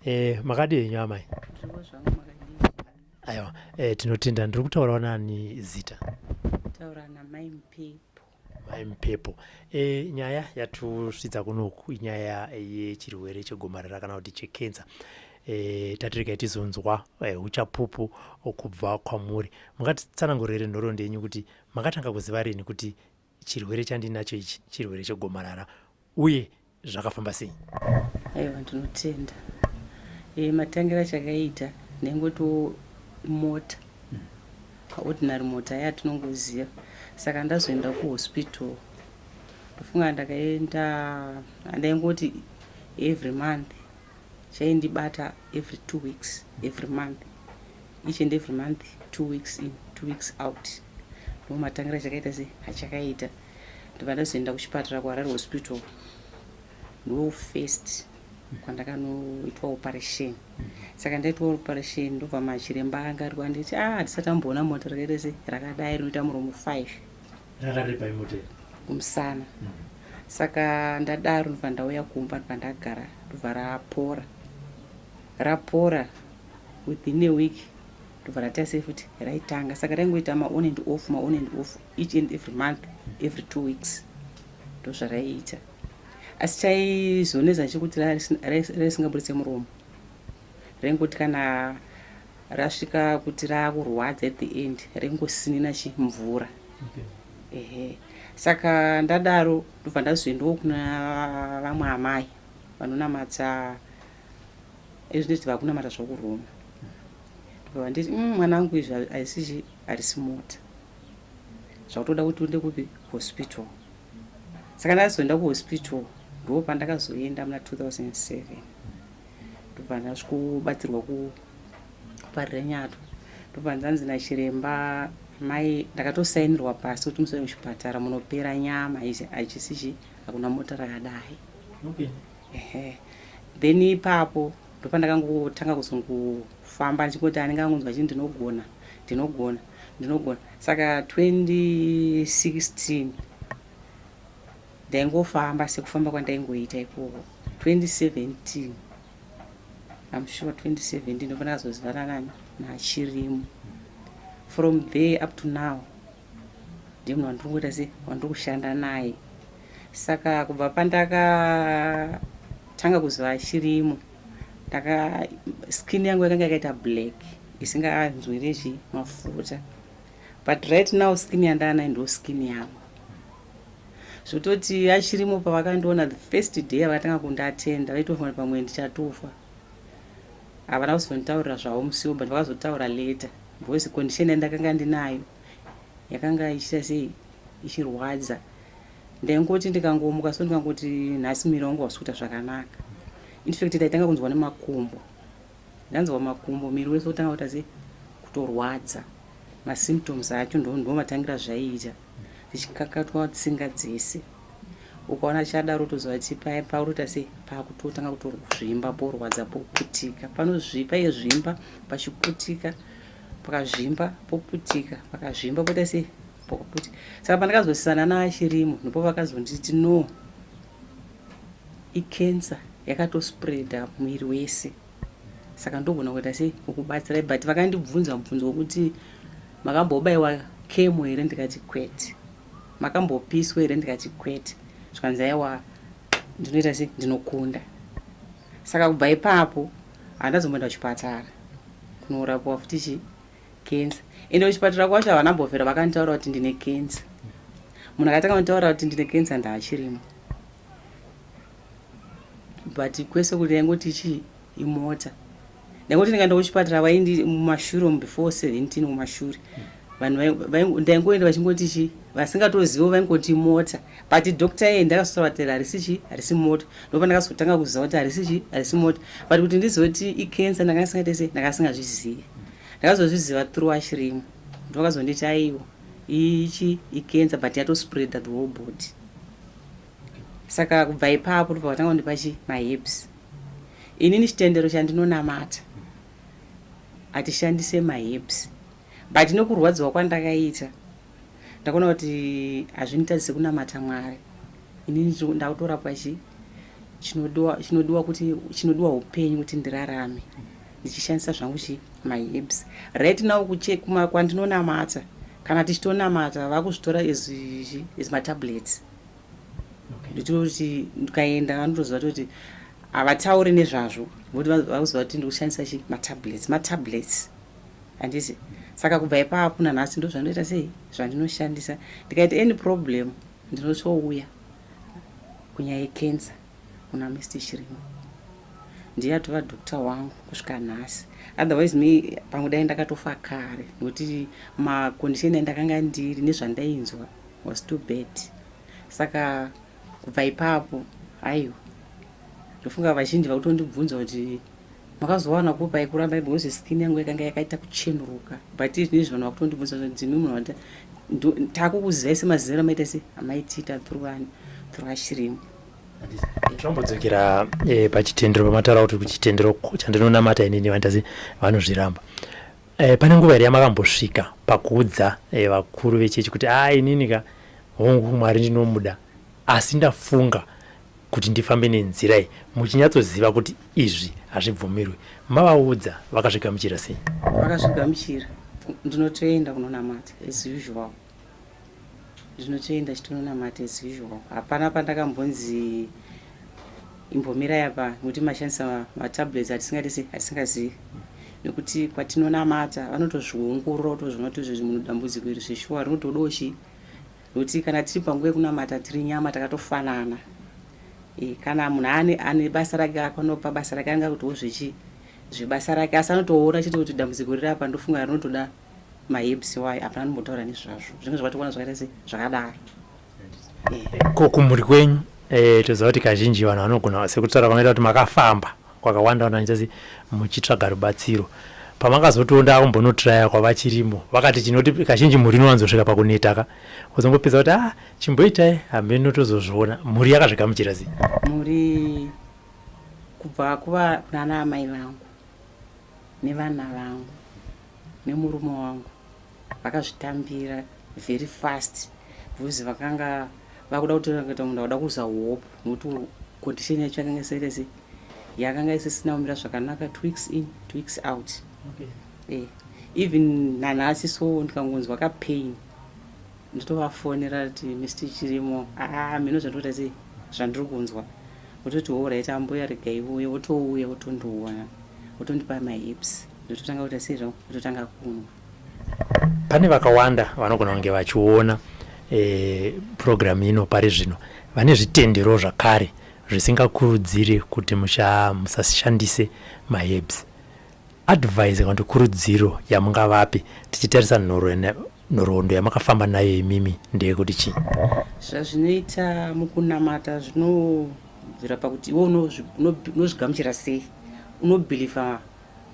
eh makadi yenyu amai aiwa eh tinotenda ndiri kutaurawo nani zita taura namai mpepo mai mpepo e, nyaya yatusvitsa kunoku inyaya yechirwere e, chegomarara kana kuti chekenza e, tatiregai tizonzwa e, uchapupu e, kubva kwamuri mungatitsanangurire nhoroondo yenyu kuti makatanga kuziva rini kuti chirwere chandinacho ichi chirwere chegomarara uye zvakafamba sei aiwa ndinotenda e, matangira achakaita ndengotiwo mota mm. ordinary mota ya tinongoziva saka ndazoenda kuhospital ndofunga ndakaenda andaingoti every month chaindibata every two weeks every month each and every month two weeks in two weeks out ndomatangira chakaita se hachakaita ndobva ndazoenda kuchipatara kuharare hospital ndo first kwandakanoitwa operation saka ndaitwa operation ndobva machiremba anga ari kwanditi a ah, handisati amboona mota rakaita se rakadai rinoita muromo five kumusana mm. saka ndadaro ndobva ndauya kumba ndobva ndagara ndobva rapora rapora within a week ndobva rataisei futi raitanga saka raingoita maon and off maon and off each and every month every two weeks ndozvaraiita asi chaizoneza chekuti raisingaburitse muromo raingoti kana rasvika kuti rakurwadza at the end raingosinina chi mvura ehe saka ndadaro ndobva ndazoendawo kuna vamwe amai vanonamata ezvinoti vakunamata zvakuroma ndobva vanditi mm, mwana wangu izvi haisizvi harisi mota zvakutoda kuti uende kupi hospital saka ndakazoenda kuhospital ndoo pandakazoenda muna 2007 ndobva ndasvikobatsirwa kuparira nyato ndobva ndanzi nachiremba mai ndakatosainirwa pasi kuti musai muchipatara munopera nyama izi hachisi chi hakuna mota rakadai okay. ehe then ipapo ndopandakangotanga kuzongofamba ndichingoti anenge angonzwa chii ndinogona ndinogona ndinogona saka 2016 ndaingofamba sekufamba kwandaingoita ikoko 2017 am sure 2017 ndopandakazozivana nani nachirimo from there up to now ndimunhu wandiri kungoita se wandiri kushanda naye Saka kubva pandakatanga kuziva achirimo ndaka skin yangu yakanga yakaita black isinganzwiri zvi mafuta but right now skin yandaanayo ndo skin yangu zvototi achirimo pavakandiona the first day avakatanga kundatenda vaitofa pamwe ndichatofa havana kuzonditaurira zvavo musiwo but vakazotaura later because condition yandakanga ndinayo yakanga ichita sei ichirwadza ndaingoti ndikangomuka so ndikangoti nhasi miri wangu wasuta zvakanaka infact ndaitanga kunzwa nemakumbo ndanzwa makumbo miri wese otanga kuita sei kutorwadza masymptoms acho ndomatangira zvaiita ndichikakatwa tsinga dzese ukaona chadaro toziva kuti paye paurota sei pakutotanga kutorwazvimba porwadza poputika panozvipa yezvimba pachiputika pakazvimba poputika pakazvimba poita sei pakaputika saka pandakazosisana naachirimo ndipo vakazonditi no icancer yakatospreada muviri wese saka ndogona kuita sei ukubatsirai but vakandibvunza mubvunzo wokuti makambobaiwa kemo here ndikati kwete makambopiswa here ndikati kwete zvikanzi aiwa ndinoita sei ndinokunda saka kubva ipapo Handazomboenda kuchipatara kunorapiwa futi chi cancer ende kuchipatara kwacho havana mbovhera vakanditaura kuti ndine cancer munhu akatanga kunditaura kuti ndine cancer ndaachirimo but kwese kuti ndaingoti chii imota ndaingoti ndikaenda kuchipatara vaindi mumashure umu before 17 mumashure mm. vanhu ndaingoenda vachingoti chi vasingatozivo vaingoti mota but doctor yeye ndakasovatera harisi chi harisi mota ndopa ndakazotanga kuziva kuti harisi chi harisi mota but kuti ndizoti icancer ndanga ndisingaite sei ndanga singazvizivi ndakazozviziva through ashirimo ndovakazonditi aiwo ichi icancer but yatospreada the whole body saka kubva ipapo ndobva vatanga kundipa chi mahips inini chitendero chandinonamata hatishandise mahips But nekurwadziwa kwandakaita ndakaona kuti hazvinditadzi sekunamata Mwari. Ini ndakutorapwa chi chinodiwa chinodiwa kuti chinodiwa upenyu kuti ndirarame ndichishandisa zvangu chi my hips. Right now kuche kuma kwandinonamata kana tichitonamata vakuzvitora as as ma tablets. Nditoti kuti ndikaenda vanotoziva kuti havatauri nezvazvo ngokuti vakuziva kuti ndikushandisa chi ma tablets ma tablets. handiti saka kubva ipapo nanhasi ndozvandinoita sei zvandinoshandisa ndikaita any problem ndinotouya kunyaya yecancer kuna mr chirimo ndiye atova dokta wangu kusvika nhasi otherwise me pamwe dai ndakatofa kare nokuti macondition andakanga ndiri nezvandainzwa was too bad saka Kubva ipapo aiwa ndofunga vazhinji vakutondibvunza kuti makazowana kupa yekuramba because skin yangu yakanga yakaita kuchenuruka but zvinezvi vanhu vakutondibvunza kuti ndimi munhu wata takukuzivai semaziviro amaita se amaitiita through ani through ashirimo tirambodzokera eh, pachitendero pamataura kuti kuchitendero chandinonamata inini vandazi vanozviramba E, pane nguva here yamakambosvika pakuudza e, vakuru vechechi kuti a ah, inini ka hongu mwari ndinomuda asi ndafunga kuti ndifambe nenzira iyi muchinyatsoziva kuti izvi hazvibvumirwi mavaudza vakazvigamuchira sei vakazvigamuchira ndinotoenda kunonamata as usual Zvinotoenda chitononamata as usual. Hapana pandakambonzi imbomirai apa nekuti mashandisa matablets atisingadi sei atisingazivi nekuti kwatinonamata vanotozviongorora kutozvona kuti izvezvi munhu dambudziko iri zveshuwa rinotodawo chii nekuti kana tiri panguva yekunamata tiri nyama takatofanana e, kana munhu ane ane basa rake akanopa basa rake anenge akutiwo zvechi zvebasa rake asi anotoona chete kuti dambudziko riri apa ndofunga rinotoda Mahips why hapana anombotaura nezvazvo zvinenge zvakatokwana zvakaita se zvakadaro. Ko kumhuri kwenyu eh, toziva kuti kazhinji vanhu vanogona sekutaura vanoita kuti makafamba kwakawanda wanda ndichasi muchitsvaga rubatsiro pamakazotiwo ndakumbonotiraya kwavachirimo vakati chinoti kazhinji mhuri inowanzosvika pakuneta ka wozongopedza kuti ah chimboitai hameno tozozviona mhuri yakazvigamuchira sei Mhuri kubva kuva kunana amai vangu nevana vangu nemurume wangu vakazvitambira very fast because vakanga vakuda kutora kuita munhu akuda kuza hope nokuti condition yacho yakanga iserese yakanga isisina kumira zvakanaka two weeks in two weeks out okay. eh, even nanhasi so ndikangonzwa kapain nditovafonera ti mr chirimo aa ah, mino zvandoita sei zvandiri kunzwa wototi horaiti ambuya regai uye wotouya wotondiona wotondipa mahips ndototanga kuita seizvo wototanga kunwa pane vakawanda vanogona kunge vachiona e, purogiramu ino pari zvino vane zvitendero zvakare zvisingakurudziri kuti musashandise maherbs Advice kana kuti kurudziro yamungavape tichitarisa nhoroondo yamakafamba nayo imimi ndeyekuti chii? Zvazvinoita mukunamata zvinobvira pakuti iwe unozvigamuchira sei, unobhilivha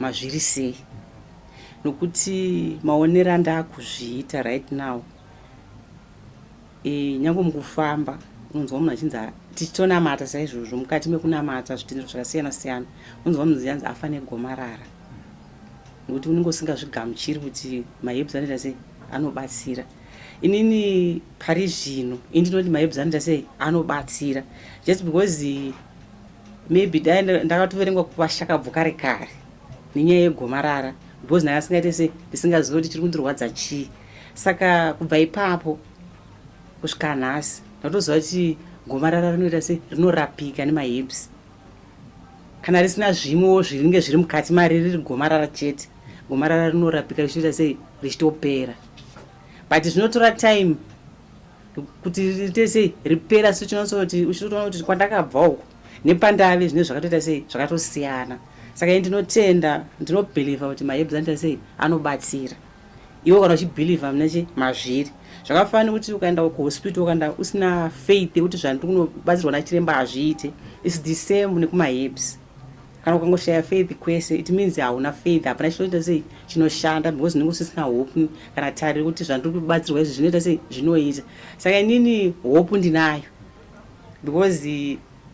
mazviri sei nokuti maonero andakuzviita right now E, nyange mukufamba unonzwa munhu achinzi tichitonamata saizvozvo mukati mekunamata zvitendero zvakasiyana siyana unonzwa munhu zianzi afa negomarara nokuti unenge usingazvigamuchiri kuti mahebs anoita sei anobatsira inini pari zvino indinoti mahebs anoita sei anobatsira just because maybe dai ndakatoverengwa kuvashakabvu kare kare nenyaya yegomarara because ndakasingaite sei ndisingazive kuti chiri kundirwadza chii saka kubva ipapo kusvika nhasi ndatoziva kuti gomarara rinoita se rinorapika nemahips kana risina zvimwewo zviringe zviri mukati mari riri gomarara chete gomarara rinorapika richiita sei richitopera but zvinotora time kuti riite sei ripera so chinotsoti uchitotoona kuti kwandakabva uko nepandave zvine zvakatoita sei zvakatosiyana saka i ndinotenda ndinobheliva kuti maebs anoita sei anobatsira iwe kana uchibhilivha mune chi mazviri zvakafanana nekuti ukaenda kuhospital ukaenda usina faith yekuti zvandiri kunobatsirwa nachiremba hazviite its the same nekumaherbs kana ukangoshaya faith kwese it means hauna faith hapana chinoita sei chinoshanda because unenge usisina hope kana tariro kuti zvandiri kubatsirwa izvi zvinoita sei zvinoita saka inini hope ndinayo because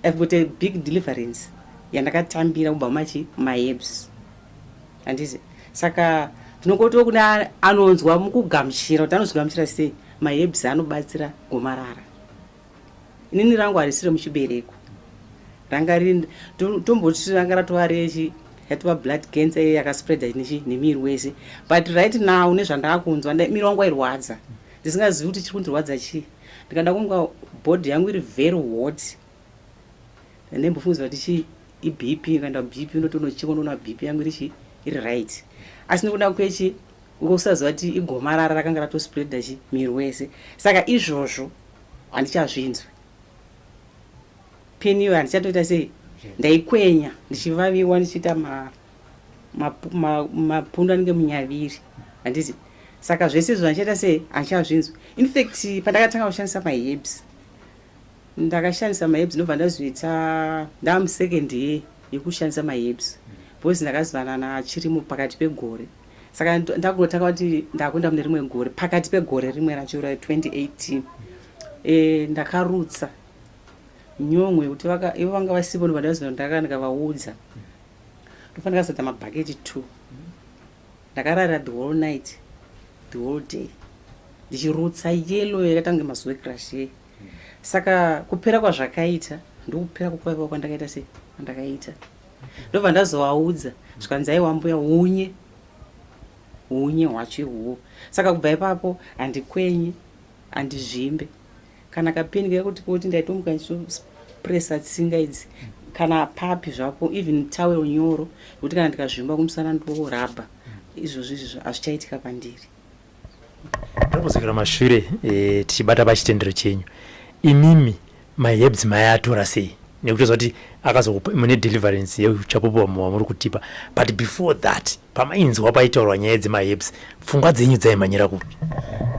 i've got a big deliverance yandakatambira kubva machi maherbs handizi saka tinongotiwo kune anonzwa mukugamuchira kuti anozvigamuchira sei mahebs anobatsira gomarara inini rangu harisi remuchibereko ranga ri tomboti ranga ratova rechi yatova blood cancer iye yakaspreada nechi nemiri wese but right now nezvandakunzwa miri wangu wairwadza ndisingazivi kuti chiri kundirwadza chii ndikada kunga body yangu iri very hot ndaimbofungidzira kuti chii ibp ikaenda bp unoti unochekwa ndoona bp yangu iri chii iri right asi nekuda kwechi ukakusaziva kuti igomarara rakanga ratospreada chi miri wese saka izvozvo handichazvinzwi peni iyoyo handichatoita sei ndaikwenya ndichivaviwa ndichiita mapundu anenge munyaviri handizi saka zvese izvo zvandichaita sei handichazvinzwi infact pandakatanga kushandisa maherbs Ndakashandisa maherbs ndobva ndazoita ndamu second year yekushandisa maherbs because ndakazivana naChirimo pakati pegore saka ndakungotanga kuti ndakuenda mune rimwe gore pakati pegore rimwe racho ra 2018 e, eh, ndakarutsa nyomwe kuti ivo vanga vasipo ndobva ndazoa ndaka ndikavaudza ndofa ndakazadza mabhaketi two ndakarara the whole night the whole day ndichirutsa yellow yakatange mazuve crush yeye saka kupera kwazvakaita ndokupera kukuvaiwa kwandakaita sei kwandakaita ndobva ndazovaudza zvikanzi aiwa mbuya hunye hunye hwacho ihuwo saka kubva ipapo handikwenye handizvimbe kana kapeni kaya kuti kuti ndaitomuka ndichipresa tsinga idzi kana papi zvapo even tawel nyoro yekuti kana ndikazvimba kumusana ndorabha izvozvo izvozvo hazvichaitika pandiri Ndinombozokera mashure eh, tichibata pachitendero chenyu imimi mahebs mayatora sei nekuti toziva kuti akazokupa mune deliverance yeuchapupu vamwe vamuri kutipa but before that pamainzwa paitaurwa nyaya dzemahebs pfungwa dzenyu dzaimhanyira kupi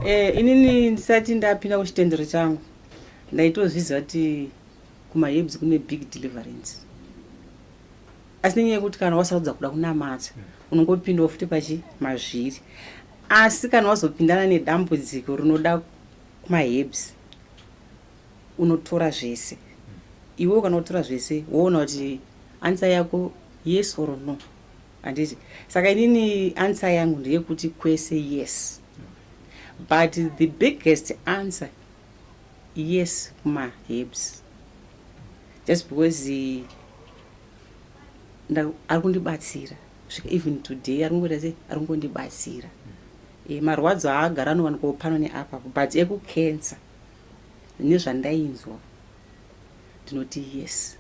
Eh, inini ndisati ndapinda kuchitendero changu ndaitozviziva kuti kumahebs kune big deliverance asi nenyaya yekuti kana wasarudza kuda kunamata mm. unongopindawo futi pachi mazviri asi kana wazopindana nedambudziko rinoda kumahebs unotora zvese mm. iwewo kana wotora zvese woona kuti ansa yako yes or no handiti saka inini ansa yangu ndeyekuti kwese yes but the biggest answer yes kumahebs just because ari kundibatsira svika even today ari kungoita sei ari kungondibatsira e, marwadzo aagara anowanikwawo pano neapapo but ekucancer nezvandainzwa ndinoti yes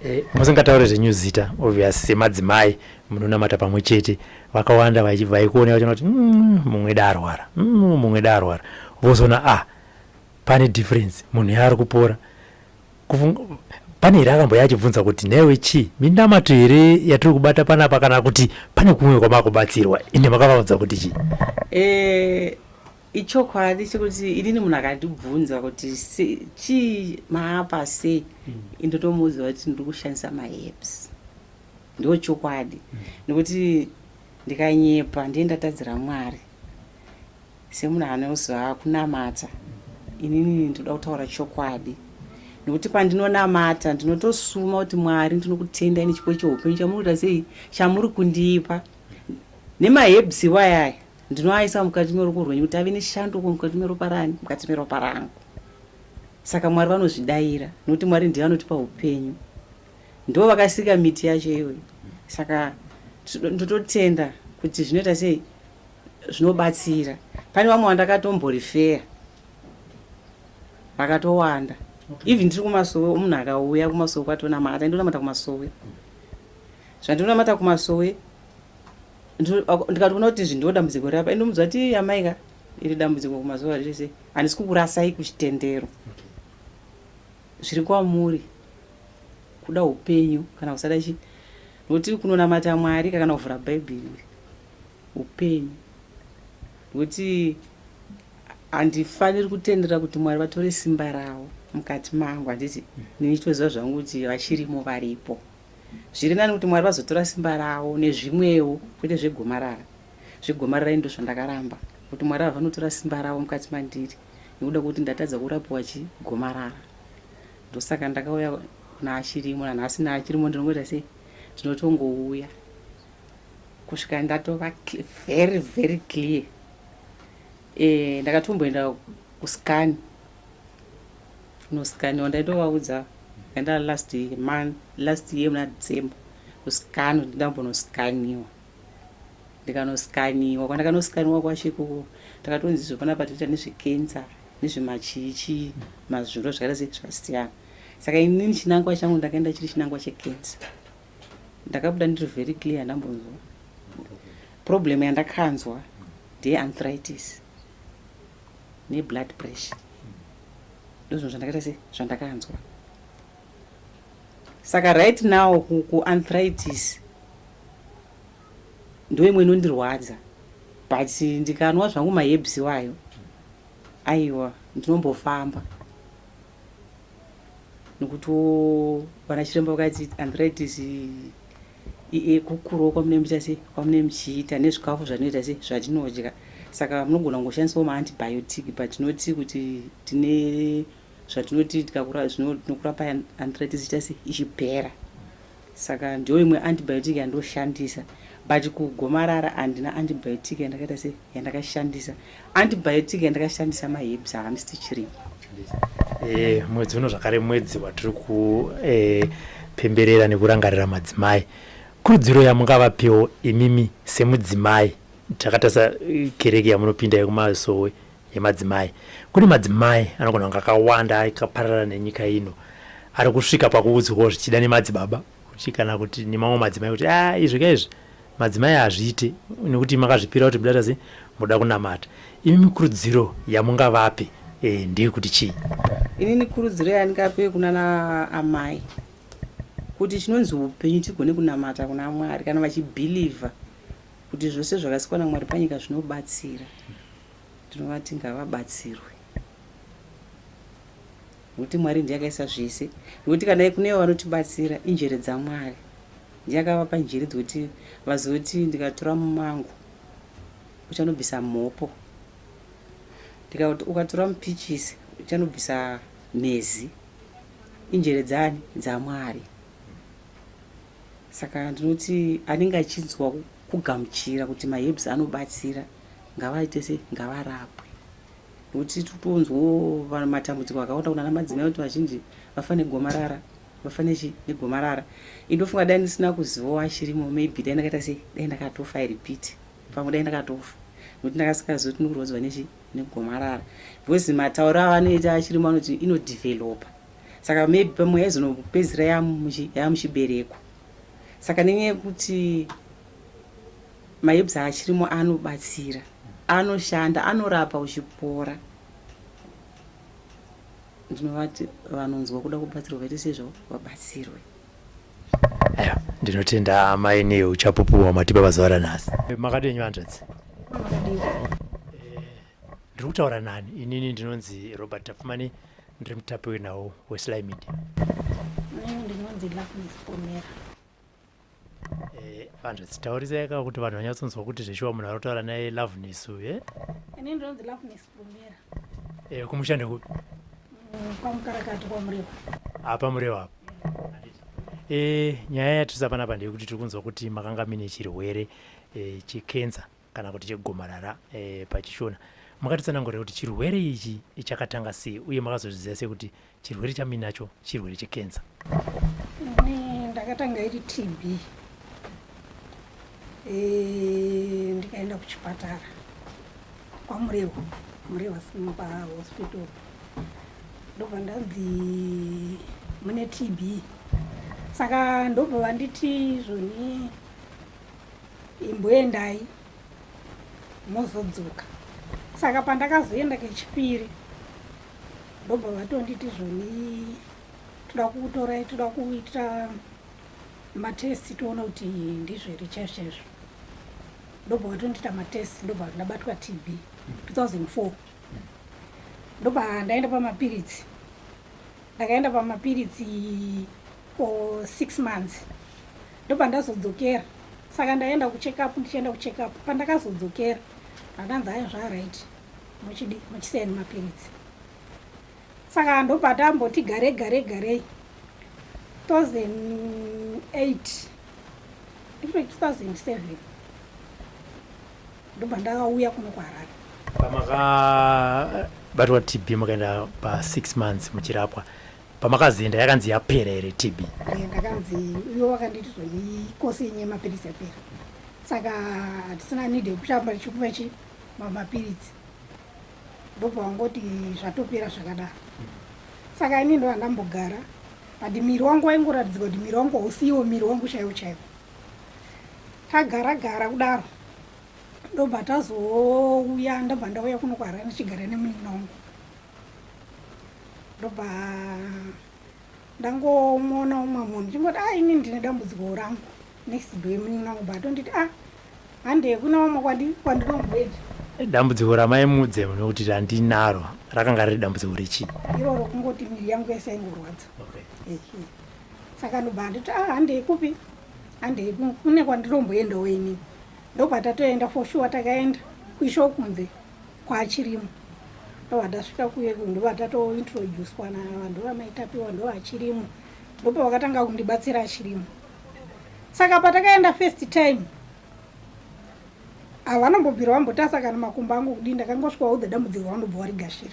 e, musingataure zvenyu zita obvious semadzimai munonamata pamwe chete vakawanda vaikuona vachona kuti mm, mumwe da arwara mm, mumwe da arwara vozoona ah pane difference munhu yaari kupora Pane here akamboya achibvunza kuti nhaiwe chii minamato here yatiri kubata panapa kana kuti pane kumwe kwamakubatsirwa ende makavaudza kuti chii eh, ichokwadi chekuti inini munhu akandibvunza kuti chii maapa sei hmm. indotomuudza kuti ndiri kushandisa maherbs ndo chokwadi hmm. nekuti ndikanyepa ndiye ndatadzira mwari Semunhu anoziva kunamata, inini ndinoda kutaura chokwadi nekuti pandinonamata ndinotosuma kuti Mwari ndinokutendai nechipo cheupenyu chamuri kuita sei chamuri kundipa nemahebs iwayaya ndinoaisa mukati meruko rwenyu kuti ave neshanduko mukati meropa rani mukati meropa rangu saka mwari vanozvidaira nokuti mwari ndiye vanotipa upenyu ndivo vakasika miti yacho iyoyi saka ndototenda kuti zvinoita sei zvinobatsira pane vamwe vandakatomborifeya vakatowanda even tiri kumasowe munhu akauya kumasowe kwatonamata ndonamata kumasowe zvandinonamata kumasowe ndikatoona kuti izvi ndo dambudziko rapa indomudzwa ti amaika iri dambudziko kumazuva rese handisi kukurasai kuchitendero okay. zviri kwamuri kuda upenyu kana kusada chi nokuti kunonamata mwari kakana kuvhura bhaibheri upenyu nokuti handifaniri kutendera kuti mwari vatore simba ravo mukati mangu handiti nini chitoziva zvangu kuti vachirimo varipo zviri nani kuti mwari vazotora simba ravo nezvimwewo kwete zvegomarara zvegomarara ndo zvandakaramba kuti mwari havanotora simba ravo mukati mandiri nekuda kwekuti ndatadza kurapiwa chi gomarara ndosaka ndakauya kuna achirimo nanhasi naachirimo ndinongoita sei ndinotongouya kusvika ndatova very very clear e, ndakatomboenda kuskani kunoskani wandaitovaudza enda last month last year muna december kuskani ndambonoskaniwa ndikanosikaniwa kwandakanosikaniwa kwacho ikoko takatonzi izvo panapa toita nezvekensa nezvemachiichii mazuro zvakaita sei zvakasiyana saka inini chinangwa changu ndakaenda chiri chinangwa chekensa ndakabuda ndiri very clear ndambonzwa problem yandakanzwa ndeye anthritis neblood pressure ndozvinhu zvandakaita sei zvandakanzwa Saka right now ku arthritis ndoimwe inondirwadza but ndikanwa zvangu maherbs iwayo aiwa ndinombofamba nokuti vana chiremba vakati arthritis kukurawo kwamune muita sei kwamune muchiita nezvikafu zvanoita sei zvatinodya saka munogona kungoshandisawo maantibiotic but tinoti kuti tine zvatinoti tikakura zvino tinokurapa arthritis ita sei ichipera saka ndiyo imwe antibiotic yandoshandisa but kugomarara handina antibiotic yandakaita sei yandakashandisa antibiotic yandakashandisa maherbs haandisi tichirima eh, mwedzi uno zvakare mwedzi watiri kupemberera eh, nekurangarira madzimai kurudziro yamungavapiwo imimi semudzimai takatarisa eh, kereke yamunopinda yekumasowe yemadzimai. Kune madzimai anogona kunge akawanda akaparara nenyika ino ari kusvika pakuudzwawo zvichida nemadzibaba kuti kana kuti nemamwe madzimai kuti a ah, izvi ka izvi madzimai hazviite nekuti makazvipira kuti mudaita sei muda kunamata imi mikurudziro yamungavape e, ndeyekuti chii inini kurudziro yandingape kunana amai kuti chinonzi upenyu tigone kunamata kuna mwari kana vachibhilivha kuti zvose zvakasikwa namwari panyika zvinobatsira Tinovati ngavabatsirwe nokuti Mwari ndiye akaisa zvese, nokuti kana kune ivo vanotibatsira injere dzaMwari. Ndiye akavapa njere dzokuti vazoti ndikatora mumango uchanobvisa mhopo, ndikati ukatora mupichisi uchanobvisa mhezi. Injere dzaani? DzaMwari. Saka ndinoti anenge achinzwa kugamuchira kuti maherbs anobatsira ngavaite sei ngavarapwe nokuti tiri kutonzwawo vanhu matambudziko akawanda kunana madzimai kuti vazhinji vafa negomarara vafa nechi negomarara indofunga dai ndisina kuzivawo achirimo maybe dai ndakaita sei dai ndakatofa i repeat pamwe dai ndakatofa nokuti ndakasikazivi kuti ndikurwadziwa nechi negomarara because matauro avanoita achirimo anoti inodevelopa saka maybe pamwe yaizonopedzisira yamuchibereko Saka nenyaya yekuti maherbs achirimo anobatsira, anoshanda, anorapa uchipora. Ndinovati vanonzwa kuda kubatsirwa vaite sezvo vabatsirwe. Aiwa, ndinotenda amai neuchapupu hwamatipa pazuva ranhasi. Makadii hanzvadzi? ndiri kutaura nani inini ndinonzi robert tapfumani ndiri mutapi wenhau wesly media ndinonzi loveness pomera vanhu eh, dzitaurisa yaka kuti vanhu vanyatsonzwa kuti zveshuwa munhu ari kutaura naye loveness uye eh? ini ndinonzi loveness pomera e eh, kumushande kupi mm, kwamukarakati kwamureva apa mureva apa e nyaya yatisa panapa ndeyekuti tiri kunzwa kuti makanga mine chirwere e, chekenza kana kuti chegomarara e, pachishona makatitsanangurira kuti chirwere ichi chakatanga sei uye makazozviziva sei kuti chirwere chaminacho chirwere chekenza ndakatanga iri tb eh, ndikaenda kuchipatara kwamurehwa murehwa sima pahospital ndobva ndanzi mune tb saka ndobva vanditi zvoni imboendai mozodzoka saka pandakazoenda kechipiri ndobva vatonditi zvoni toda kukutorai toda kuita matest toona kuti ndizvo here chaizvo chaizvo ndobva vatondiita matest ndobva ndabatwa tb 2004 ndobva ndaenda pamapiritsi Ndakaenda pamapiritsi for six months ndopandazodzokera saka ndaenda kucheck up ndichienda kucheck up pandakazodzokera akanzi ayo zvaaright muchidi muchiseni mapiritsi saka ndopatamboti gare gare garei 2008 ndifune 2007 ndobva ndakauya kuno kuharare pamakabatwa tb makaenda pasix months muchirapwa pamakazoenda yakanzi yapera here tb eh, ndakanzi uyo wakanditi zvoikosi yenye yemapiritsi yapera saka hatisina need yekushamba chikuva chi mamapiritsi ndobva wangoti zvatopera zvakadaro saka ini ndovandambogara but miri wangu waingoratidzika kuti miri wangu hausiiwo miri wangu chaiwo chaiwo Tagara gara kudaro ndobva tazouya ndobva ndauya kuno kwaharare ndichigara nemunin'ina wangu ndobva ndangomona umwe munhu ndichingoti a ah, ini ndine dambudziko rangu next do yemunin'ina wangu batonditi a ah, handei kuna umwe kwandinomboita dambudziko ramai mudze nokuti randinaro rakanga riri dambudziko rechii iroro kungoti miri yangu yese yaingorwadza okay. saka ndobva anditi ah handei kupi handei kune kwandinomboendawo inini ndobva tatoenda for sure takaenda kuisho kunze kwaachirimo ndobva tasvika kuye ndobva tatointroducwa navanhu vamaitapiwa ndo achirimo ndopa vakatanga kundibatsira achirimo saka patakaenda first time havanombobvira vambotasa kana makumbo angu kudii ndakangosvika wauda dambudziko vanobva varigashira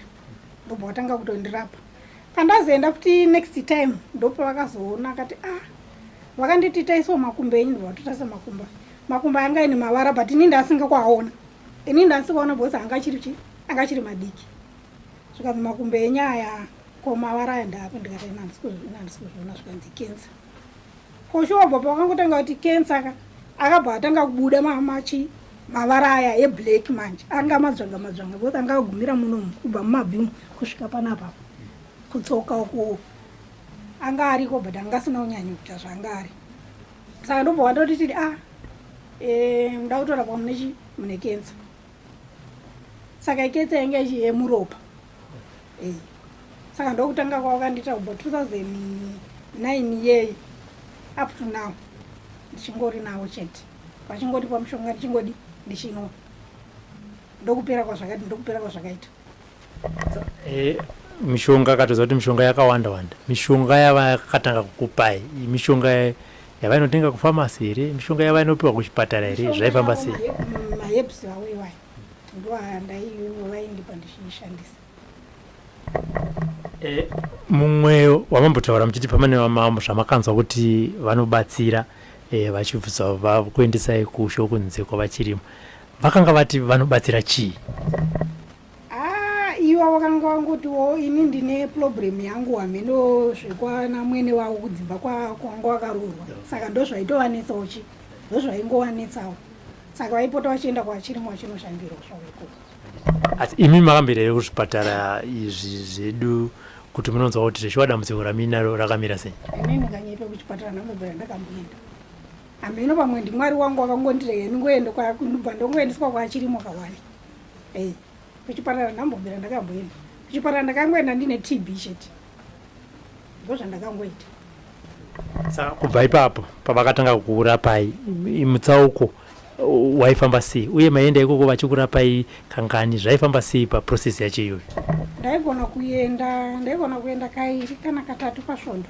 ndobva watanga kutondirapa pandazoenda futi next time ndopa vakazoona akati ah vakanditi taisawo makumbo enyu ndobva vatotarisa makumbo makumbo anga ine mavara but ini ndaasinga kuaona ini ndaasikaona because anga achiri chi anga achiri madiki zvikanzi makumbo enyu aya ko mavara aya ndaapo ndikati ina handisi kuzviona zvikanzi kensa Kosho wabva pawakangotanga kuti cancer ka akabva atanga kubuda mamachi mavara aya eblack manje anga madzvanga madzvanga both anga agumira muno kubva mumabvimu kusvika panapa kutsoka uku anga ariko but anga asina kunyanyo kuita zvaanga ari saka ndobva wandotitidi a ah, eh, muda kutorapwa mune chi mune cancer saka iketsa yanga yemuropa eh. saka ndokutanga kwawakandiita kubva 2009 iyeyi up to now ndichingori nawo chete vachingondipa mushonga ndichingodi ndichinwa ndokupera kwazvakaita ndokupera kwazvakaita Eh, mishonga akatoziva kuti mishonga yakawanda wanda mishonga yavakatanga kukupai mishonga yavainotenga kufamasi here mishonga yavainopiwa kuchipatara here zvaifamba sei maherbs awo iwayo ndoandaiwo vaindipa ndichiishandisa eh, mumwe wamambotaura muchiti pamane vamambo zvamakanzwa kuti vanobatsira eh, vachibvisa kuendesai kusho kunze kwavachirimo Vakanga vati vanobatsira chii? Ah, ivo vakanga vangotiwo ini ndine problem yangu hameno zvekwana mwene wavo kudzimba kwanga wakaroorwa saka ndozvaitovanetsawo chi ndozvaingovanetsawo saka vaipota vachienda kwachirimo vachinoshandirwa zvavo ikoko asi imi makambira here kuzvipatara izvi zvedu kuti munonzwa kuti zveshuwa dambudziko raminaro rakamira sei ini ndikanyepe kuchipatara namubhera ndakamboenda hameno pamwe ndimwari wangu wakangondirega ndingoenda ndobva ndongoendeswa kwaachirimo kawani ei kuchipatara ndambobvira ndakamboenda kuchipatara ndakangoenda ndine tb chete ndo zvandakangoita sa kubva ipapo pavakatanga kukurapai mutsauko waifamba sei uye maienda ikoko vachikurapai kangani zvaifamba sei paprocess yacho iyoyo ndaigona kuenda ndaigona kuenda kairi kana katatu pasvondo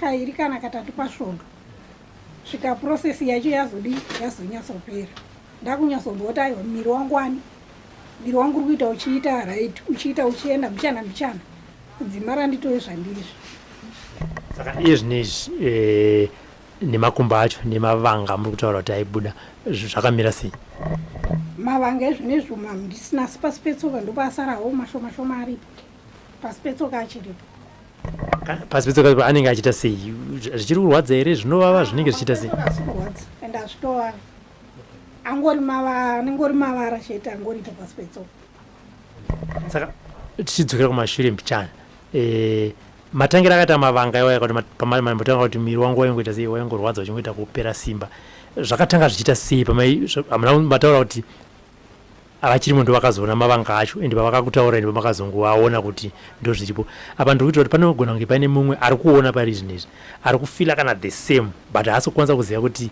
kairi kana katatu pasvondo svika process yacho yazodi yazonyatsopera ndakunyatsomboota aiwa miri wangu wani miri wangu uri kuita uchiita right uchiita uchienda mbichana mbichana kudzima randitove zvandizvo saka iye zvine izvi eh, nemakumba acho nemavanga muri kutaura kuti aibuda zvakamira sei mavanga ezvinezvo mamdisina asi pasi petsoka ndopasarawo mashomashoma aripo pasi petsoka achiripo pasi petsoka chiripo anenge achiita sei zvichiri kurwadza here zvinovava zvinenge zvichiita sei asi kurwadza ende azvitovava angori mavara anenge ori mavara chete angoripo pasi petsoka saka tichidzokera kumashure mbichana eh, matangira akaita mavanga iwaya kuti pamambotanga kuti miri wangu waingoita sei waingorwadza uchingoita kupera simba zvakatanga zvichiita sei pamai mataura kuti Ava chirimo ndovakazoona mavanga acho and pavakakutaura ndipo makazongoaona kuti ndozviripo. Apa ndiri kuitira kuti panogona kunge paine mumwe ari kuona pari zvinhu izvi ari kufila kana the same but haasi kukwanisa kuziva kuti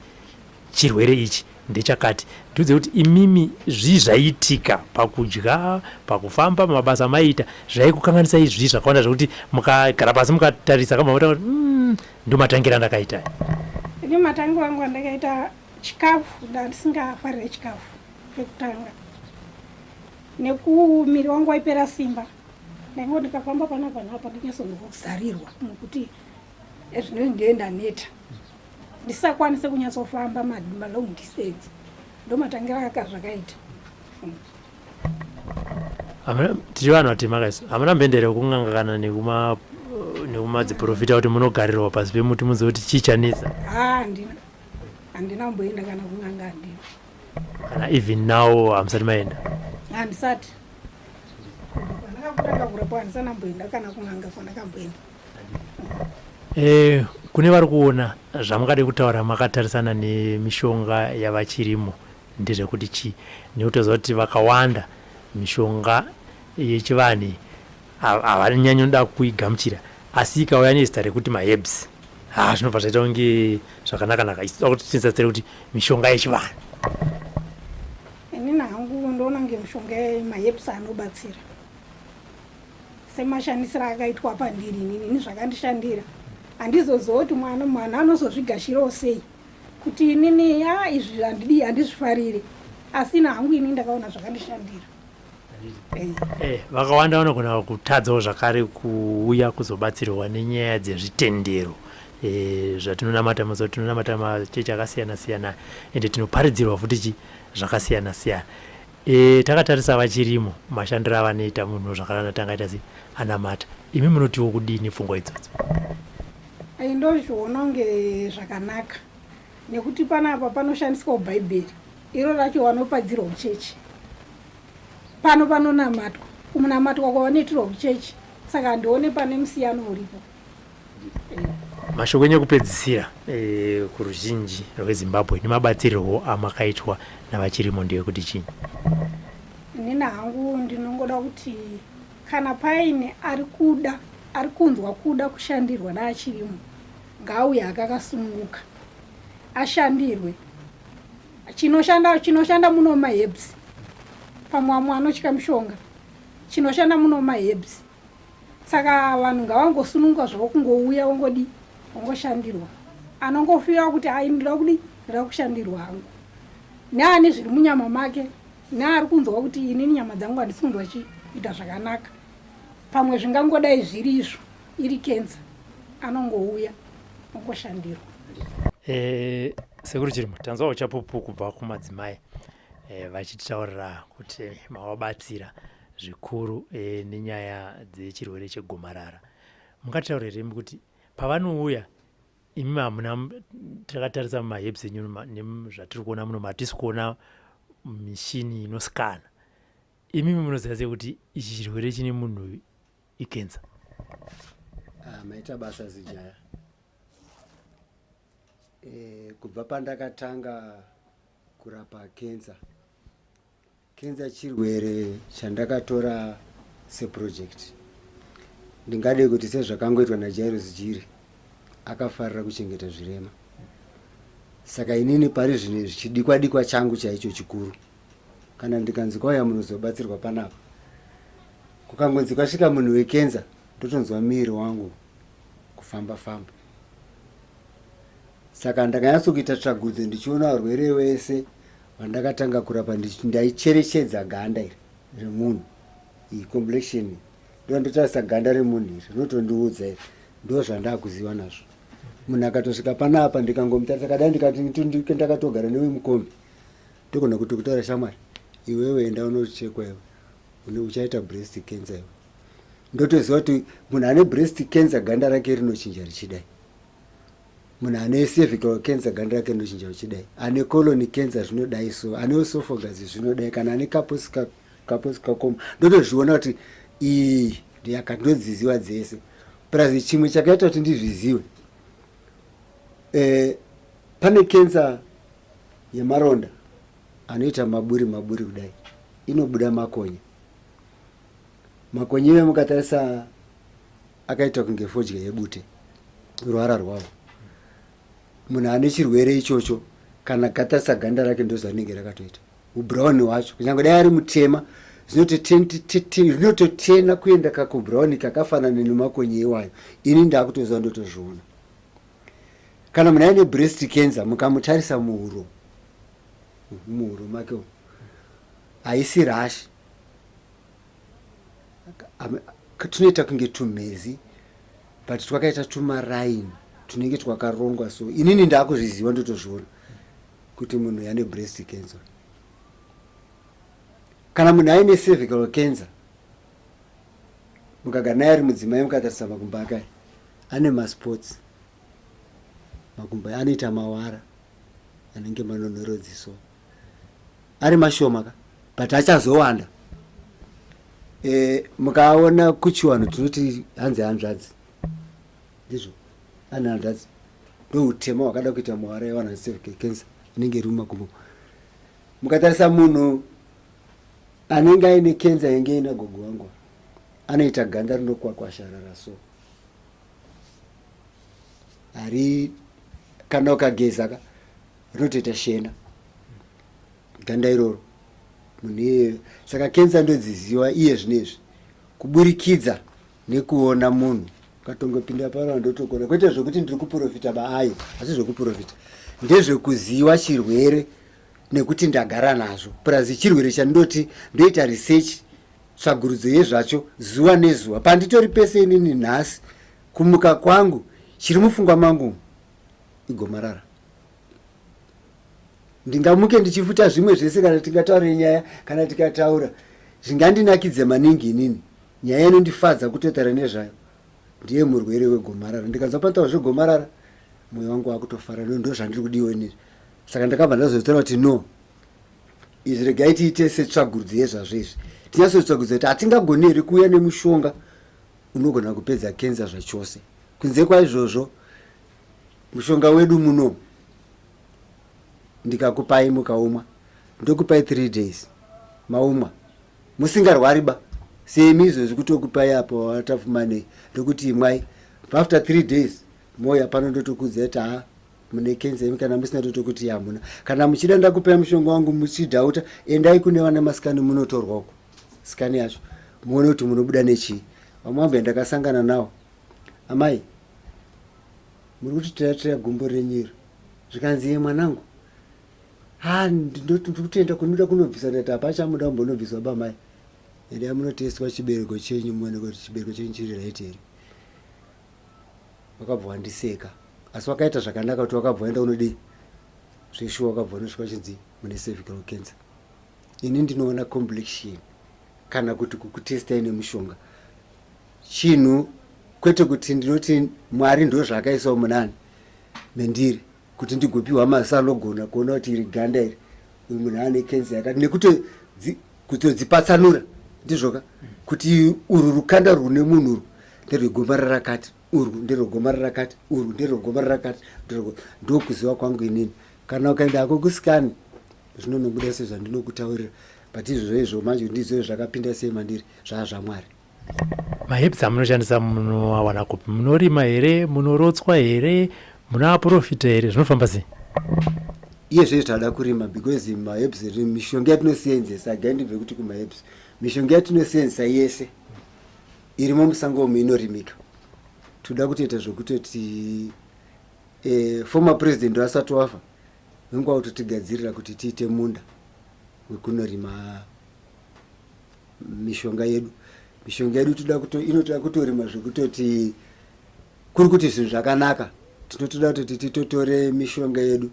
chirwere ichi ndechakati. Ndiudze kuti imimi zvii zvaiitika pakudya, pakufamba, pamabasa amaiita zvaikukanganisa izvii zvakawanda zvekuti mukagara pasi mukatarisa kama mota kuti mm, ndomatangira ndakaita. Ini matangira angu andakaita chikafu ndandisingafarire chikafu. Pekutanga nekumiri wangu waipera simba ndaingo ndikafamba pana vanhu apa ndinyatsongozarirwa nokuti ezvinoi ndiye ndaneta ndisakwanise kunyatsofamba malong distance ndomatangira aka zvakaita tichi vanhu vatema kaiso hamuna mhendere kun'anga kana nekumadziprofita kuti munogarirwa pasi pemuti muzive kuti chii chanetsa handina handina kumboenda kana kun'anga handina kana even now hamusati maenda handisati ndakakutanga kurepo handisana mboenda kana kunanga kwandakamboenda Eh, kune vari kuona zvamakade kutaura makatarisana nemishonga yavachirimo ndezvekuti chii nekuti toziva kuti vakawanda mishonga yechivanhu iyi havanyanyoda kuigamuchira asi ikauya nezita rekuti maherbs haa zvinobva zvaita kunge zvakanaka naka isida kuti tinisasire kuti mishonga yechivanhu inini hangu ndoona kunge mishonga yemaherbs anobatsira semashandisiro akaitwa pandiri inini ini zvakandishandira handizoziva kuti mwana mwana anozozvigashirawo sei kuti inini ya izvi handidii handizvifariri asina hangu ini ndakaona zvakandishandira Eh, vakawanda vanogona kutadzawo zvakare kuuya kuzobatsirwa nenyaya dzezvitendero eh, zvatinonamata mazuva tinonamata machechi akasiyana siyana ende tinoparidzirwa futi chi zvakasiyana siyana e, takatarisa vachirimo mashandiro avanoita munhu zvakanana tangaita se anamata imi munotiwo kudii nepfungwa idzodzo ndozviona kunge zvakanaka nekuti panapa panoshandiswawo bhaibheri Iro racho wanopadzirwa kuchechi. Pano panonamatwa. Kunamatwa kwavanoitirwa kuchechi. Saka handione pane musiyano uripo. Mashoko enyu ekupedzisira e, kuruzhinji rweZimbabwe nemabatsirirwo amakaitwa navachirimo ndeyekuti chii? Inini hangu ndinongoda kuti kana paine ari kuda ari kunzwa kuda kushandirwa naachirimo ngaauye akakasununguka ashandirwe chinoshanda chinoshanda muno maherbs pamwe amwe anotya mushonga chinoshanda muno maherbs saka vanhu ngavangosununguka zvavo kungouya wongodi wongoshandirwa anongofira kuti ai ndira kudi ndira kushandirwa hangu neane zviri munyama make neari kunzwa kuti inini nyama dzangu handisi kunzwa chiita zvakanaka pamwe zvingangodai zviri izvo Iri kenza anongouya ongoshandirwa. Eh, sekuru chirimo tanzwawo chapupu kubva kumadzimai eh, vachitaurira kuti mavabatsira zvikuru eh, nenyaya dzechirwere chegomarara mungataurireimi kuti pavanouya imi hamuna takatarisa mumaheps enyu zvatiri kuona muno matisi kuona mishini inosikana imi munoziva sei kuti ichi chirwere chine munhu uyu ikenza ah, maita basa zijaya e, kubva pandakatanga kurapa kenza kenza chirwere chandakatora seprojekti ndingade kuti sezvakangoitwa najairos jiri akafarira kuchengeta zvirema saka inini pari zvine zvichidikwa dikwa changu chaicho chikuru kana ndikanzi kwauya munhu uzobatsirwa panapa kukangonzi kwasvika munhu wekenza ndotonzwa miiri wangu kufamba famba saka ndakanyatsokuita tsvagudzo ndichiona varwere wese vandakatanga kurapa ndaicherechedza ganda iri remunhu iyi complexion iyi ndo ndotarisa ganda remunhu iri rinotondiudza iri ndo zvandakuziva nazvo munhu akatosvika panapa ndikangomutarisa kadai ndikati ndakatogara newemukombi Ndogona kuti kutaura shamwari iwewe enda unochekwa iwe une uchaita breast cancer iwe ndotoziva kuti munhu ane breast cancer ganda rake rinochinja richidai munhu ane cervical cancer ganda rake rinochinja richidai ane colon cancer zvinodai so ane esophagus zvinodai kana ane caposcacom ndotozviona kuti iyi ndiyaka ndinodziziva dzese plus chimwe chakaita kuti ndizvizive E, pane kensa yemaronda anoita maburi maburi kudai inobuda makonye makonye iwe mukatarisa akaita kunge fodya yebute ruvara rwavo munhu ane chirwere ichocho kana katarisa ganda rake ndozvarinenge rakatoita Ubrown wacho kunyange dai ari mutema zvinototena kuenda kakubrown kakafanana nemakonye iwayo ini ndakutoziva ndotozviona kana munhu aine breast cancer mukamutarisa muhuro muhuro make haisi rashi tunoita kunge tumhezi but twakaita tumaraini tunenge twakarongwa so inini ndakuzviziva ndotozviona kuti munhu uyu ane breast cancer kana munhu aine cervical cancer mukagara naye ari mudzimai mukatarisa makumbo ake aya ane masports makumbo aya anoita mawara anenge manonhorodziso ari mashoma ka but achazowanda e, mukaona kuchiwanhu tinoti hanzi hanzvadzi Ndizvo ana hanzvadzi ndoutema wakada kuita muhara yevanhu cervical cancer inenge iri mumakumbo mukatarisa munhu anenge aine kenza yenge ina gogo wangu anoita ganda rinokwakwasharara so hari kana ukageza ka rinotoita shena ganda iroro munhu iyeyo saka kenza ndodziziwa iye zvino izvi kuburikidza nekuona munhu ukatongopinda paro andotokona kwete zvekuti ndiri kuprofita baayo asi zvekuprofita ndezvekuziva chirwere nekuti ndagara nazvo plus chirwere chandoti ndoita research tsvagurudzo yezvacho zuva nezuva panditori pese inini nhasi kumuka kwangu chiri mufungwa mangu igomarara ndingamuke ndichifuta zvimwe zvese kana tingataure nyaya kana tikataura zvingandinakidze maningi inini nyaya inondifadza kutotara nezvayo ndiye murwere wegomarara ndikanzwa panotaura zvegomarara mwoyo wangu wakutofara no ndo zvandiri kudiwo inizvi saka ndakabva ndazotora kuti no izvi regai tiite setsvagurudzo yezvazvo izvi tinyasotsvagurudzo kuti hatingagoni here kuuya nemushonga unogona kupedza kenza zvachose kunze kwaizvozvo mushonga wedu muno ndikakupai mukaumwa ndokupai three days maumwa musingarwari ba semi izvozvi kutokupai apo watafumanei ndokuti imwai after three days moya pano ndotokudza kuti haa mune kensa imi kana musina totokuti hamuna kana muchida ndakupai mushonga wangu muchidhauta endai kune vana masikani munotorwa uko sikani yacho muone kuti munobuda nechii vamwambuya ndakasangana nawo amai Muri kuti taya taya gumbo renyu iro. Zvikanzi iye mwanangu. Ha ndoti ndiri kutenda kunoda kunobvisa ndati hapachamuda kumbonobviswa bamai. Endai munotestwa chibereko chenyu muone kuti chibereko chenyu chiri right here. Wakabva wandiseka. Asi wakaita zvakanaka kuti wakabva waenda unodii? Zveshuwa wakabva wanosvika uchinzi mune cervical cancer. Ini ndinoona complexion kana kuti kukutestai nemushonga chinhu kwete kuti ndinoti mwari ndozvaakaisawo munani mendiri kuti ndigopiwa maziso anogona kuona kuti iri ganda iri uyu munhu ane kenzi yakati nekutodzipatsanura ndizvoka kuti urwu rukanda rwune munhu urwu nderwegomarara rakati urwu nderwegomarara rakati urwu nderwegomarara rakati ndokuziva kwangu inini kana ukaenda hako kusikani zvinonobuda sezvandinokutaurira but izvozvo izvo manje ndizvo zvakapinda sei mandiri zvaa zvamwari maherbs amunoshandisa munoawana kupi munorima here munorotswa here munaaprofita here zvinofamba sei iye zvee tinoda kurima because maherbs mishonga yatinoseenzesa againdibve kuti kumaherbs mishonga yatinoseenzesa yese irimo musango omu inorimika tinoda kutoita zvekutoti eh, former president asati wafa venguva kutotigadzirira kuti tiite munda wekunorima mishonga yedu mishonga yedu toda kuto inotoda kutorima zvekutoti kuri kuti zvinhu zvakanaka tinotoda kutoti titotore mishonga yedu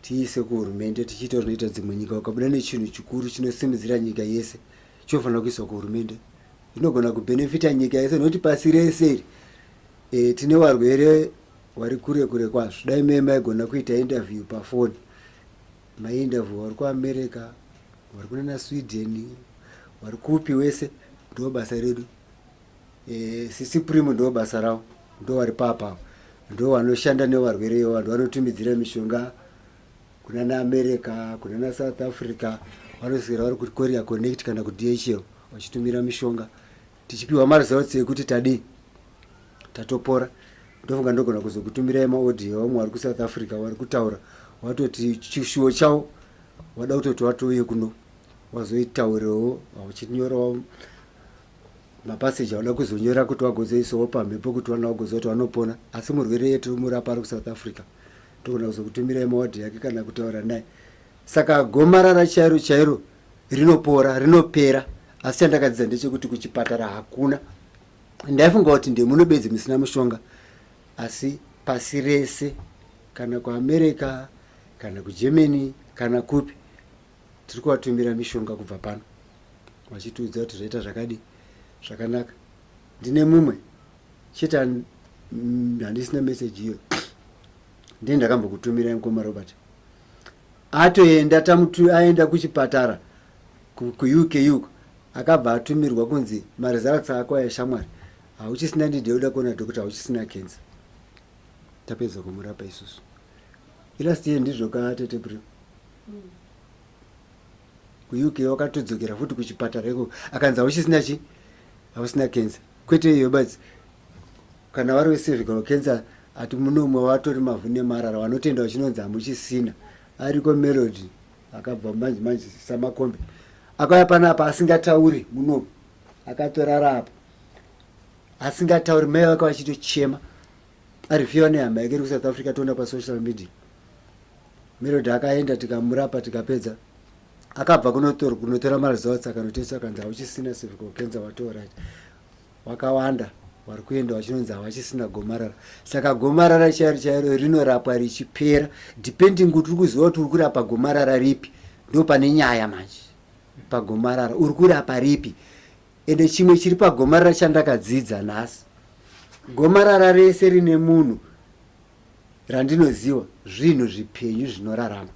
tiise kuhurumende tichiita zvinoita dzimwe nyika ukabuda nechinhu chikuru chinosimudzira nyika yese chinofanira kuiswa kuhurumende inogona kubhenefita nyika yese nokuti pasi rese iri e, tine varwere vari kure kure kwazvo dai mei maigona kuita interview pafoni Maenda vo vari kuAmerica, vari kunana Sweden, vari kupi wese ndo basa redu. Eh, sisi Primo ndo basa ravo, ndo vari papa. Ndo vanoshanda nevarwere ivavo, ndo vanotumidzira mishonga kunana America, kunana South Africa, vanoswera vari kuCourier Connect kana kuDHL vachitumira mishonga. tichipiwa maresults ekuti tadii tatopora ndofunga ndogona kuzokutumirai maaudio vamwe vari kusouth africa vari kutaura watoti chishuwo chawo wada kutoti watouye kuno wazoitaurewo vauchinyorawo mapaseji awada kuzonyora kuti wagozoisawo pamhepo kuti vana vagoziva kuti vanopona asi murwere yetu murapa ari kusouth africa togona kuzokutumirai mawadhi yake kana kutaura naye saka gomarara chairo chairo rinopora rinopera asi chandakadzidza ndechekuti kuchipatara hakuna ndaifunga kuti ndemuno bedzi musina mushonga asi pasi rese kana kuamerica kana kugermany kana kupi tiri kuvatumira mishonga kubva pano vachitiudza kuti zvaita zvakadi zvakanaka ndine mumwe chete handisina message iyo ndini ndakambokutumirai mukoma robert Atoenda tamutu aenda kuchipatara ku, ku UK uko akabva atumirwa kunzi maresults ako aya shamwari hauchisina need yekuda kuona doctor hauchisina cancer. Tapedza kumurapa isusu. Ilast year ndizvo ka tete Brio. Mm. Ku UK wakatodzokera futi kuchipatara iko akanzi hauchisina chi hausina cancer. kwete iyo basi kana vari wecervical cancer ati munomwe watori mavhu nemarara vanotenda vachinonzi hamuchisina ariko melody akabva manje manje samakombe akauya panapa asingatauri munomwe akatorara apa asingatauri mai vake vachitochema ari fiwa nehama yake iri kusouth africa toona pasocial media melody akaenda tikamurapa tikapedza akabva kunotor kunotora maresults akanotesa akanzi hauchisina cervical cancer watorat wakawanda vari kuenda vachinonzi havachisina gomarara saka gomarara chairo chairo rinorapwa richipera depending kuti uri kuziva kuti uri kurapa gomarara ripi ndo pane nyaya manje pagomarara uri kurapa ripi ende chimwe chiri pagomarara chandakadzidza nhasi gomarara rese rine munhu randinoziva zvinhu zvipenyu zvinorarama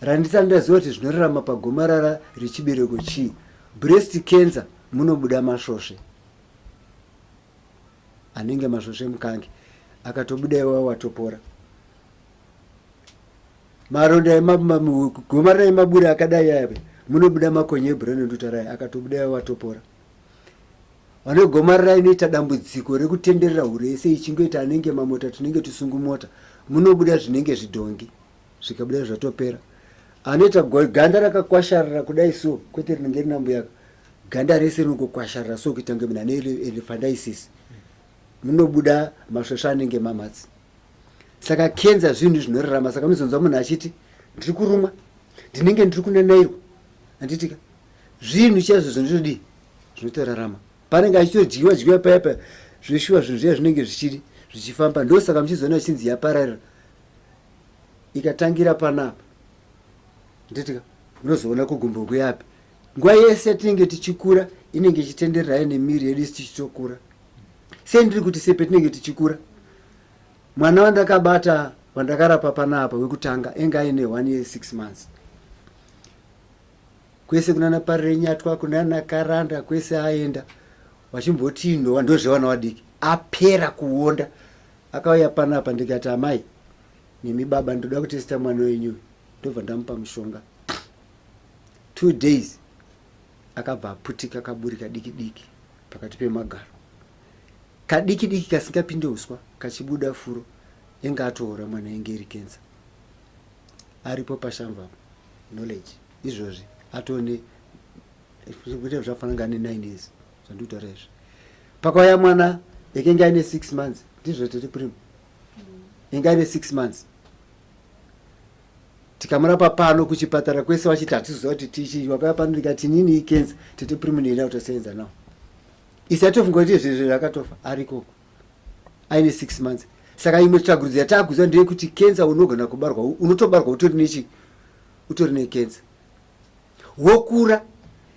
Randisani ndaziva kuti zvinorarama pagomarara rechibereko chii? Breast cancer munobuda masvosve anenge masvosve mukange akatobuda iwawo watopora maronda gomarara emaburi akadai ave munobuda makonye ebhurani ndutarai akatobuda iwawo watopora vane gomarara inoita dambudziko rekutenderera hure yese ichingoita anenge mamota tunenge tusungumota munobuda zvinenge zvidhongi zvikabudira zvatopera anoita ganda rakakwasharara kudai so kwete rinenge rina mbuyaka ganda rese rinongokwasharara so kuita kunge munhu ane elephandiasis munobuda masvosva anenge mamatsi saka kenza zvinhu zvinorarama saka unozonzwa munhu achiti ndiri kurumwa ndinenge ndiri kunanairwa anditika zvinhu chaizvo zvinotodii zvinotorarama panenge achitodyiwa dyiwa paya paya zveshuwa zvinhu zviya zvinenge zvichidi zvichifamba ndosaka muchizoona zvinzi yapararira ikatangira panapa nditi unozoona kugumbo kuyapi nguva yese yatinenge tichikura inenge ichitendererayo nemiri yedu isi tichitokura sei ndiri kuti sepetinenge tichikura mwana wandakabata wandakarapa panapa wekutanga enge aine one year six months kwese kunana parirenyatwa kunana karanda kwese aenda wachimbotiinhowa ndozvewana wadiki apera kuonda Akauya panapa ndikati amai nemi baba ndoda kutesta mwana wenyu ndobva ndamupa mushonga two days akabva aputika kaburi kadiki diki pakati pemagaro kadiki diki kasingapinde uswa kachibuda furo enge atoora mwana enge iri kensa aripo pashamva knowledge izvozvi atone zvafana ngane nine years zvandikutaura izvi pakauya mwana ekenge aine six months ndizvo tiri prim inga aine six months tikamurapa pano kuchipatara kwese wachiti hatiziva kuti tichii wakauya pano ndikati nini ikenza tete prim nienda kutosenza nawo isi atofunga kuti izvezvo zvakatofa arikoko aine six months saka imwe tsvagurudzo yataakuziva ndeyekuti kenza unogona kubarwa unotobarwa utori nechi utori nekenza wokura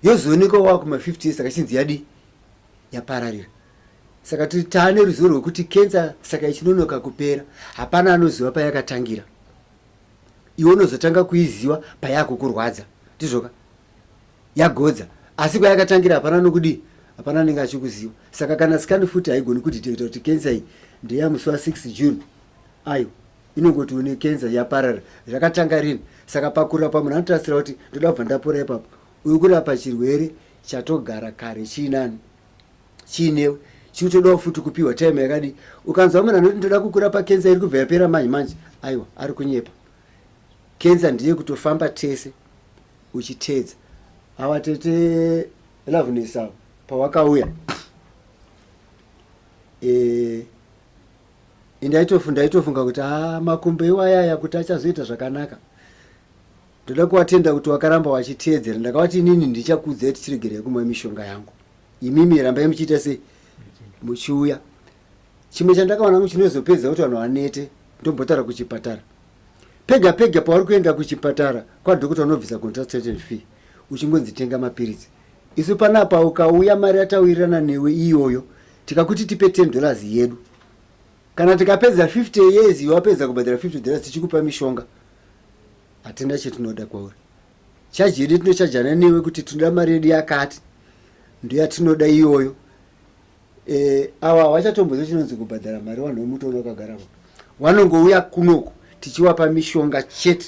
yozoonekwa wava kuma 50 years saka chinzi yadii yapararira saka tiri taane ruzivo rwekuti kensa saka ichinonoka kupera hapana anoziva payakatangira iwe unozotanga kuiziva payakukurwadza ndizvoka yagodza asi kwayakatangira hapana nokudii hapana anenge achikuziva saka kana sikani futi haigoni kudetecta kuti kensa iyi ndeyamusi wa 6 june ayo Inongoti une cancer yaparara zvakatanga rini saka pakurapa munhu anotarisira kuti ndoda kubva ndapora ipapo uri kurapa chirwere chatogara kare chiinani chiinewe chikutodawo futi kupiwa time yakadi ukanzwa munhu anoti ndoda kukurapa cancer iri kubva yapera manje manje aiwa ari kunyepa cancer ndiye kutofamba tese uchiteedza awa tete loveness awa pawakauya eh, Ndaitofu ndaitofunga kuti ah makumbo iwaya aya kuti achazoita zvakanaka. Ndoda kuwatenda kuti wakaramba wachiteedzera. Ndakawati inini ndichakuudzai tichiregerei kumwa mishonga yangu. Imimi rambai muchiita sei? Muchiuya. Chimwe chandakaona kuti chinozopedza kuti vanhu vanete ndombotaura kuchipatara. Pega pega pauri kuenda kuchipatara kwadhokota unobvisa consultant fee uchingonzi tenga mapiritsi. Isu panapa ukauya mari yatawirirana newe iyoyo tikakuti tipe 10 dollars yedu kana tikapedza 50 years wapedza kubhadhara 50 dollars tichikupa mishonga hatina chetinoda kwauri chaji yedu tinochajana newe kuti tinoda mari yedu yakati ndoyatinoda iyoyo e, ava havachatombozo chinonzi kubhadhara mari vanhu vemutoro vakagara vanongouya kunoku tichiwapa mishonga chete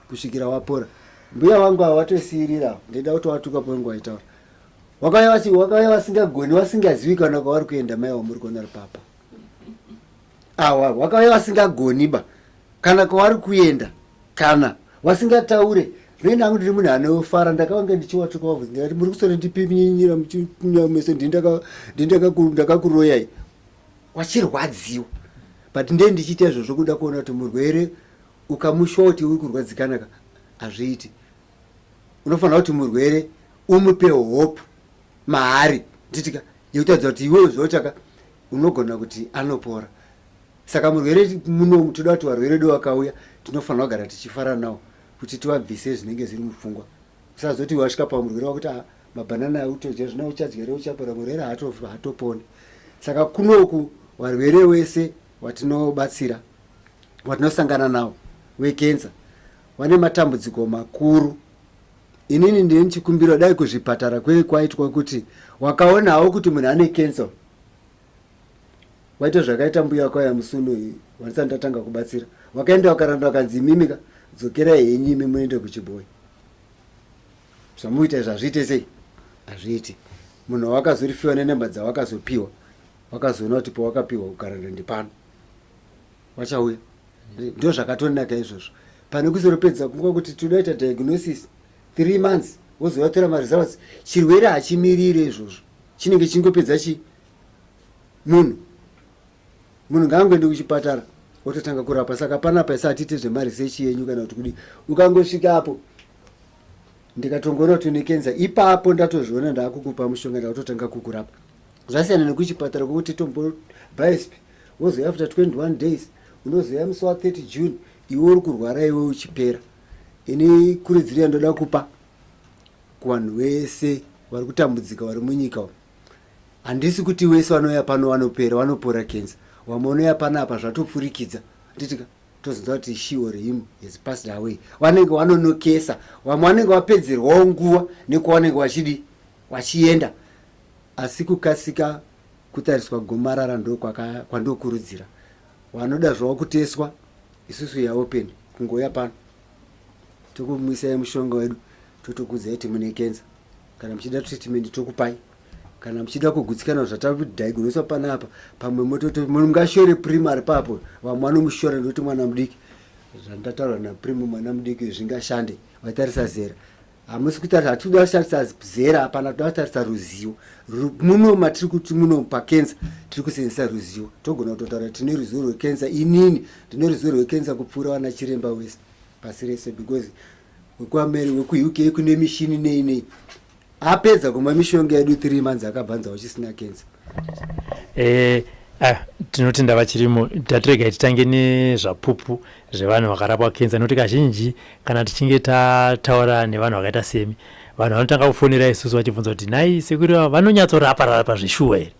kusvikira wapora mbuya wangu ava watosiirira ndaida kuti watuka paunge waitaura wakauya wasingagoni wasingazivi kana kwavari kuenda mai wamuri kuona ri papa awa wakauya wasingagoni ba kana kwavari kuenda kana wasingataure rena angu ndiri munhu anofara ndakavanga ndichiwatuka wabvunzi ndikati muri kusona ndipiminyira muchinyamese ndindakakuroyai wachirwadziwa but ndee ndichiita izvozvo kuda kuona kuti murwere Ukamushoti uri kurwadzikana ka hazviiti. Unofanira kuti murwere umupe hope mahari titika yekutaridza kuti iwewe zvautaka unogona kuti anopora. Saka murwere muno toda kuti varwere do vakauya tinofanira kugara tichifara nawo kuti tivabvise zvinenge zviri mupfungwa. Usazoti wasvika pamurwere wakuti ah, mabhanana autodya zvino uchadya reuchapora murwere haatoponi. Saka kunoku varwere wese watinobatsira watinosangana nawo wekenza wane matambudziko makuru inini ndine chikumbiro dai kuzvipatara kwei kwaitwa kuti wakaonawo kuti munhu ane kenza waita zvakaita mbuya kwaya musuno iyi wandisati ndatanga kubatsira wakaenda wakaranda wakanzi imimika dzokera henyu imi muende kuchibhoyi zvamuita zvazviite sei hazviiti munhu wawakazorifiwa nenhemba dzawakazopiwa Wakazoona kuti pawakapihwa kugara ndende pano wachauya ndo zvakatonaka izvozvo pane kuzoropedza kunguva kuti tinoita diagnosis three months wozovatora maresults chirwere hachimirire izvozvo chinenge chingopedza chi munhu munhu ngaangoende kuchipatara ototanga kurapa saka panapa isa hatite zvemaresearch yenyu kana kuti kudi ukangosvika apo ndikatongoona kuti une kenza ipapo ndatozviona ndaakukupa mushonga ndakutotanga kukurapa zvasiyana nekuchipatara kwekuti tombobhaisp wozouya after 21 days unozouya musi wa 30 june iwe uri kurwara iwe uchipera ini kuridziro yandoda kupa kuvanhu vese vari kutambudzika vari munyika umu handisi kuti wese vanouya pano vanopera vanopora kenza vamwe vanoya pana apa zvatopfurikidza nditika tozonza kuti she or him has passed away vanenge vanonokesa vamwe vanenge vapedzerwawo nguva nekuvanenge vachidi vachienda Asi kukasika kutariswa gomarara ndokwandookurudzira. Wanoda zvawo kuteswa, isusu ya open kungouya pano tokumwisai mushonga wedu totokudzai kuti mune kenza. Kana muchida treatment tokupai kana muchida kugutsikana zvatadiagnoswa panapa pamwe mototi munhu ngashore prim ari papo vamwe vanomushora nekuti mwana mudiki zvandataura naprim mwana mudiki zvingashande vatarisa zera hamusi kutarisa hatidi kutarisa zera hapana toda kutarisa ruzivo muno matiri kuti muno pakensa tiri kusenzesa ruzivo togona kutotaura tine ruzivo rwekensa inini ndine ruzivo rwekensa kupfuura vana chiremba wese pasi rese because wekuameri wekuuk kune mishini nei nei apedza kumwa mishonga yedu three months akabvanza uchisina kensa eh, ah, tinotenda vachirimo tatirega titange nezvapupu zvevanhu vakarapwa kensa nokuti kazhinji Kana tichinge tataura nevanhu vakaita semi, vanhu vanotanga kufonera isusu vachibvunza kuti nhai sekuru ava vanonyatsorapararapa zveshuwa here?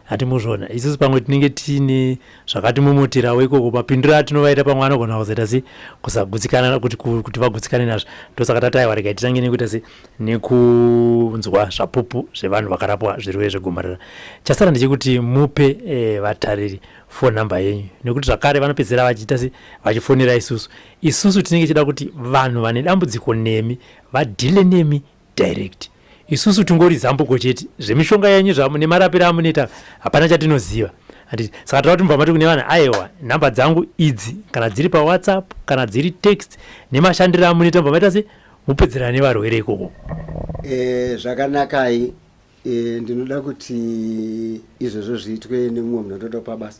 Hati muzvona isusu pamwe tinenge tiine zvakatimomoterawo ikoko, mapindiro atinovaita pamwe anogona kuzoita se kusagutsikana kuti, kuti vagutsikane nazvo. Ndosaka tati aiwa regai titange nekuita se nekunzwa zvapupu zvevanhu vakarapwa zvirwere zvegomarara. Chasara ndechekuti mupe eh, vatariri phone number yenyu nekuti zvakare vanopedzisira vachiita se vachifonera isusu Isusu tinenge tichida kuti vanhu vane dambudziko nemi vadhile nemi direct. Isusu tingori zambuko chete. Zvemishonga yenyu zvamu nemarapiro amunoita hapana chatinoziva. Handiti? Saka tinoda kuti mubva mati kune vanhu ayewa nhamba dzangu idzi kana dziri paWhatsApp kana dziri text nemashandiro amunoita mubva maita se mupedzerana nevarwere ikoko. Eh, zvakanakai eh, ndinoda kuti izvozvo zviitwe nemumwe munhu atotopa basa